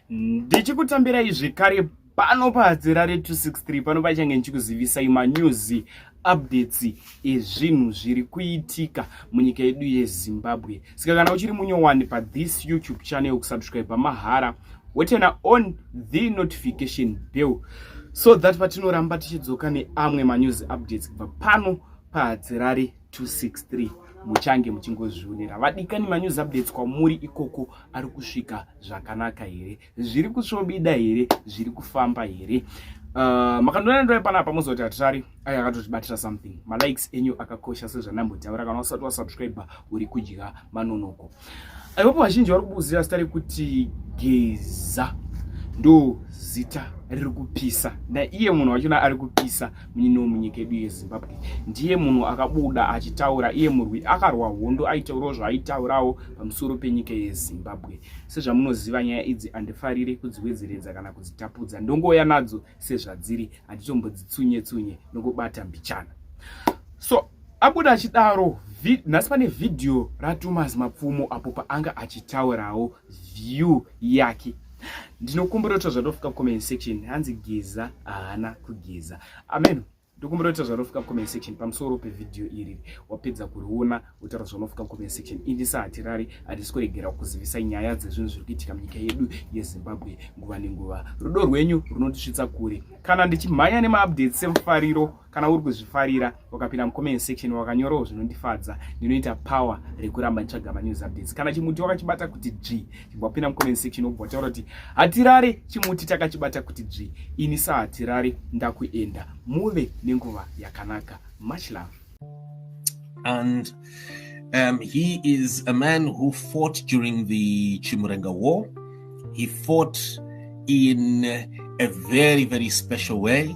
ndichikutambirai zvekare pano pahadzira re 263 pano pachange ndichikuzivisai manews updates ezvinhu zviri kuitika munyika yedu yezimbabwe saka kana uchiri munyowani pathis youtube channel kusubscribe mahara wotena on the notification bell so that patinoramba tichidzoka neamwe manews updates kubva pano pahadzirari 263 muchange muchingozvionera vadikani manews updates kwamuri ikoko ari kusvika zvakanaka here zviri kusvobida here zviri kufamba here Uh, ah, makandona ndove pana apa mozoti hatirari ayo akatotibatira something malikes enyu akakosha sezvandambotaura kana usati wasubscribe uri kudya manonoko Ipapo vazhinji vari kubuzira zita rekuti Geza ndo zita riri kupisa naiye munhu wachona ari kupisa munyini wemunyika yedu yezimbabwe ndiye munhu akabuda achitaura iye murwi akarwa hondo aitaurawo zvaaitaurawo pamusoro penyika yezimbabwe sezvamunoziva nyaya idzi andifarire kudziwedzeredza kana kudzitapudza ndongouya nadzo sezvadziri handitombodzitsunye tsunye nokubata mbichana so abuda achidaro nhasi pane vhidhiyo ratomas mapfumo apo paanga achitaurawo view yake ndinokumbira kuti zvadofika comment section hanzi geza haana kugeza ameno ndokumbira kuti zvanofika comment section pamusoro pevhidhiyo iri wapedza kuriona wotaura zvanofika comment section indisa hatirari hatisi kuregera kuzivisai nyaya dzezvinhu zviri kuitika munyika yedu yezimbabwe nguva nenguva rudo rwenyu runotisvitsa kure kana ndichimhanya nemaupdates semufariro kana uri kuzvifarira wakapinda mucomment section wakanyorawo zvinondifadza ndinoita power rekuramba nditsvaga manews updates kana chimuti wakachibata kuti dzvi chibva wapinda mucomment section wobva wataura kuti hatirare chimuti takachibata kuti dzvi ini sa hatirare ndakuenda muve nenguva yakanaka much love and um, he is a man who fought during the chimurenga war he fought in a very very special way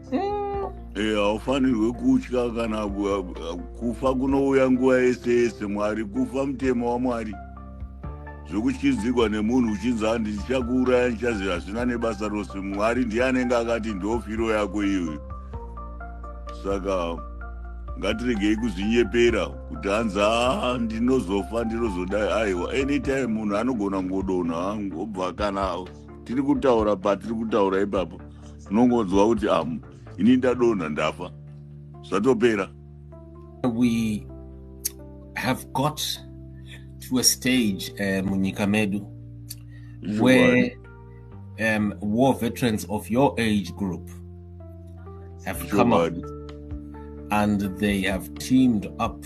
Eh, haufanirwe kutya kana kufa kunouya nguva yese yese mwari kufa mutemo wamwari zvekutyizigwa nemunhu uchinzi handi ndichakuuraya ndichazi hazvina nebasa rose mwari ndiye anenge akati ndofiro yako iyoyo saka ngatiregei kuzvinyepera kuti hanzi haa ndinozofa ndinozodai aiwa anytime munhu anogona kungodonha obva kana tiri kutaura patiri kutaura ipapo unongonzwa kuti am ini ndadonha ndafa zvatopera we have got to a stage uh, munyika medu sure. where um, war veterans of your age group have sure. come up and they have teamed up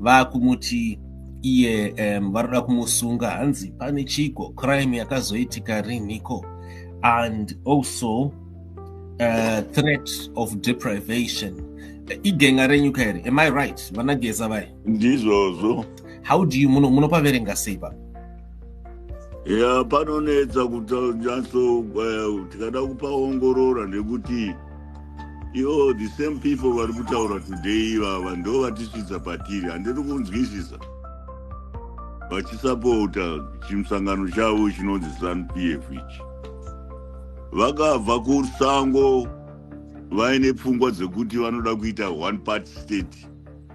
vakumuti iye um, varoda kumusunga hanzi pane chiko crime yakazoitika riniko and also uh, threat of deprivation igenga renyu kairi am i right vanageza vai ndizvozvo how do you munopaverenga sei pa ya panonetsa kutanyatso eh, tikada kupaongorora nekuti Yo, the same people vari kutaura today ivava ndo vatisvitsa patiri handiri kunzwisisa vachisapota chimusangano chavo chinonzi zanupf ichi vakabva kusango vaine pfungwa dzekuti vanoda kuita one part state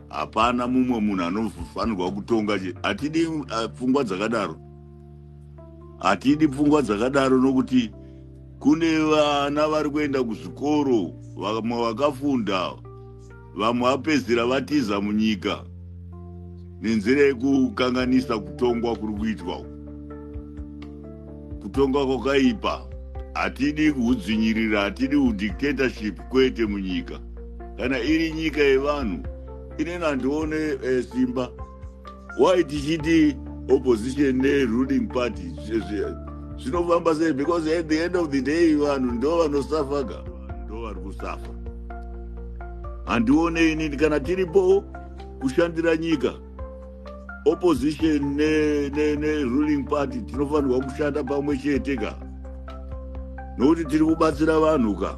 hapana mumwe munhu anofanirwa kutonga hatidi uh, pfungwa dzakadaro hatidi pfungwa dzakadaro nokuti kune vana vari kuenda kuzvikoro vamwe vakafunda vamwe vapedzira vatiza munyika nenzira yekukanganisa kutongwa kuri kuitwa kutongwa kwakaipa hatidi kuhudzvinyirira hatidi udictatorship kwete munyika kana iri nyika yevanhu inena ndione eh, simba why tichiti opposition neruling party zvinofamba sei because at the end of the day vanhu ndo vanosafa ka ndo vari kusafa handione inini kana tiripo kushandira nyika opposition neruling ne, ne party tinofanirwa kushanda pamwe chete ka nokuti tiri kubatsira vanhu ka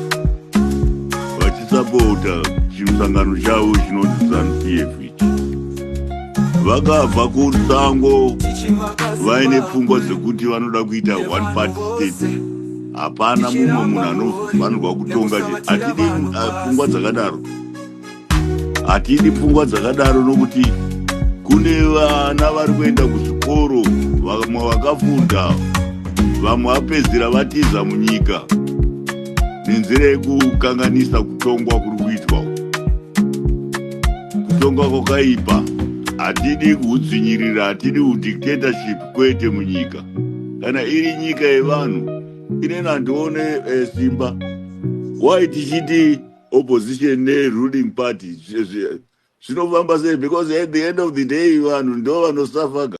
vachisapota chimusangano chavo chinonzi zanupf ichi vakabva kusango vaine pfungwa dzekuti vanoda kuita one party state hapana mumwe munhu anofanirwa kutonga hatidi pfungwa dzakadaro Hatidi pfungwa dzakadaro nokuti kune vana vari kuenda kuzvikoro vamwe vakafunda vamwe vapedzira vatiza munyika nenzira yekukanganisa kutongwa kuri kuitwa kutongwa kwakaipa hatidi kuhudzinyirira hatidi kudictatorship kwete munyika kana iri nyika yevanhu inena ndione eh, simba why tichiti opposition ne ruling party zvinofamba sei because at the end of the day vanhu ndo vanosuffer